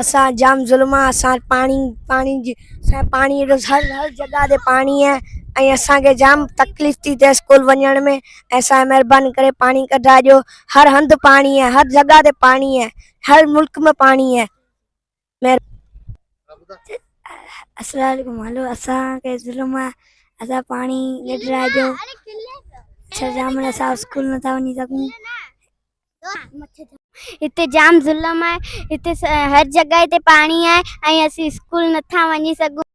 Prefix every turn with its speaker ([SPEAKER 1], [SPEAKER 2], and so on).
[SPEAKER 1] اسان جام ظلم آ اسان پاڻي پاڻي جي اسان پاڻي جو هر هر جگا تي پاڻي آ ۽ اسان کي جام تڪليف ٿي ٿي اسڪول وڃڻ ۾ اسان مهرباني ڪري پاڻي ڪڍا ڏيو هر هنڌ پاڻي آ هر جگا تي پاڻي آ هر ملڪ ۾ پاڻي آ السلام عليڪم هلو اسان کي ظلم آ اسان پاڻي ڪڍرا ڏيو اسان جام اسان اسڪول نٿا وڃي سگهون
[SPEAKER 2] هتي جام ظلم آهي هتي هر جڳهه تي پاڻي آهي ۽ اسين اسڪول نٿا وڃي سگهون.